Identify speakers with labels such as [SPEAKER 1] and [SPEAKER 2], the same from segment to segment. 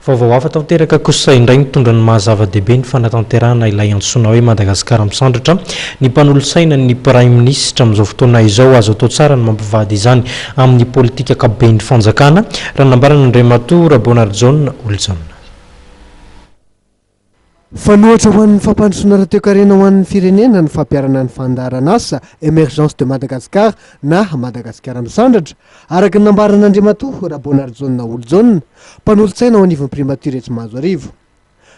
[SPEAKER 1] Vaovao hafa tanteraka kosa indray nitondra ny maha zava-dehibe ny fanatanterahana ilay antsoina hoe Madagasikara Misandratra ny mpanolotsaina ny Praiminisitra amin'izao fotoana izao. Azo atao tsara ny mampivady izany amin'ny politika ankapoben'ny fanjakana, raha nambaran'Andriamatoa Rabeonarijaona Olojaona.
[SPEAKER 2] Fanohitra ho an'ny fampandrosoana ara-toekarena ho an'ny firenena ny fampiharana ny fandaharan'asa Emergence de Madagascar na Madagasikara Misandratra, araka ny nambaran'Andriamatoa Raboanarijaona Olojaona, mpanolotsaina ao anivon'ny Primatiora etsy Mahazoarivo.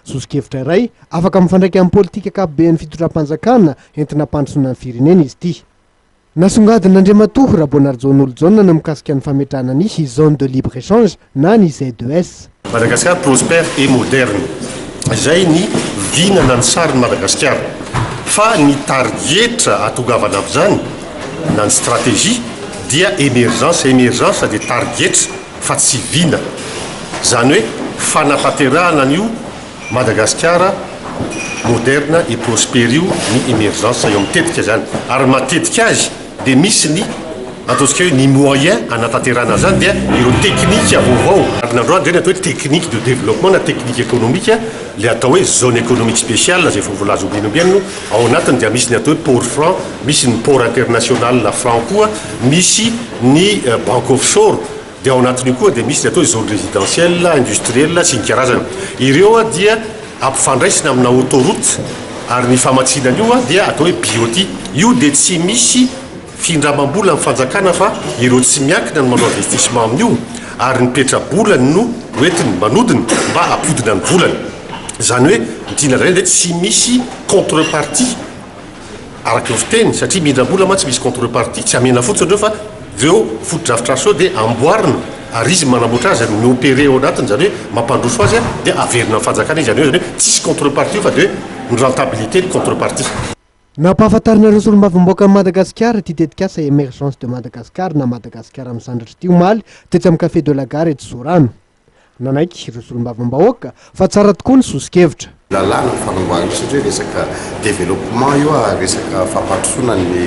[SPEAKER 2] Soso-kevitra iray afaka mifandraika amin'ny politika ankapoben'ny fitondram-panjakana entina hampandrosoana ny firenena izy ity. Nasongadin'Andriamatoa Raboanarijaon'Olojaona ny mikasika ny fametrahana ny Zone de Libre Echange na ny ZES. Madagascar prospère
[SPEAKER 3] et moderne izay ny vina na ny sarin'i Madagasikara. Fa ny tarigetra hahatongavana amin'izany na ny stratégie dia emergence, emergence dia tarigetra fa tsy vina. Izany hoe fanatanterahana an'io. Madagasikara moderna et prospère io ny emergence eo amin'ny tetika izany ary matetika azy dia misy ny ataontsika hoe ny moyen hanatanterahana an'izany dia ireo teknika vaovao ary ny androany izay ny atao hoe technique de développement na technique économique ilay atao hoe zone économique spéciale izay efa voalaza ombieny ombieny no ao anatiny dia misy ny atao hoe port franc misy ny port international franc koa misy ny banque offshore Dia ao anatin'io koa dia misy ny atao hoe zone résidentielle, industrielle sy ny karazany. Ireo dia ampifandraisina amina autoroute ary ny famatsiana an'io dia atao hoe BOT. Io dia tsy misy findramam-bola amin'ny fanjakana fa ireo tsy miankina no manao investissement amin'io ary ny petra-bolany no hoentiny manodina mba hampodina ny volany. Izany hoe ny tiana lazaina dia tsy misy contre-partie. araka ny fiteny satria mindrambola mantsy misy contrepartie tsy amena fotsiny ireo fa reo fotodrafitrasa reo dia amboarina ary izy manamboatra azy mi opere ao anatiny izany hoe mampandroso azy dia averina ny fanjakana izy izany hoe tsisy contrepartie io fa dia hoe ny rentabilité ny contrepartie Nampahafantarinareo
[SPEAKER 2] Solombavambahoakan'i Madagasikara ity tetikasa Emergence de Madagascar na Madagasikara Misandratra ity omaly tetsy amin'ny Café de la Gare etsy Sorano. Nanaiky ireo solombavambahoaka fa tsara tokoa ny soso-kevitra. Lalàna ny fanombohana
[SPEAKER 4] io satria resaka développement io ary resaka fampandrosoana ny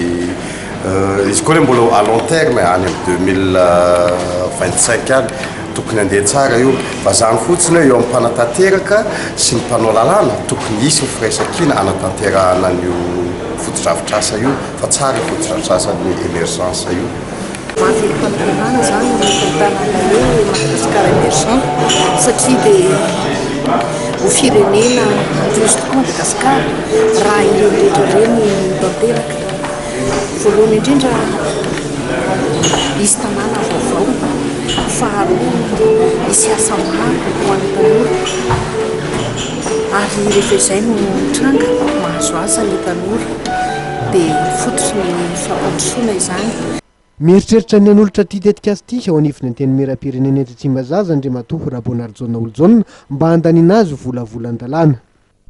[SPEAKER 4] izy koa anie mbola à long terme any amin'ny deux mille vingt cinq any tokony handeha tsara io. Vazaha ny fotsiny hoe eo amin'ny mpanatanteraka sy ny mpanao lalàna tokony hisy ny firaisankina hanatanterahana an'io fotodrafitrasa io fa tsara io fotodrafitrasan'ny emergence io. Mafy
[SPEAKER 5] fampiharana zany ny tantaran'ny hoe Madagascar Emergent satria dia ho firenena madio tokoa Madagascar raha ireny rehetra ireny tanteraka. Voalohany indrindra hisy tanàna vaovao, faharoa hisy asa maro ho an'ny tanora ary rehefa izay no mitranga mahazo asa ny tanora. dia fototry ny fampandrosoana izany. Mieritreritra
[SPEAKER 2] ny hanolotra ity tetikasa ity eo anivon'ny Antenimierampirenena etsy Tsimbazaza Andriamatoa Raboanarijaona Olojaona mba handaniana azy ho volavolan-dalàna.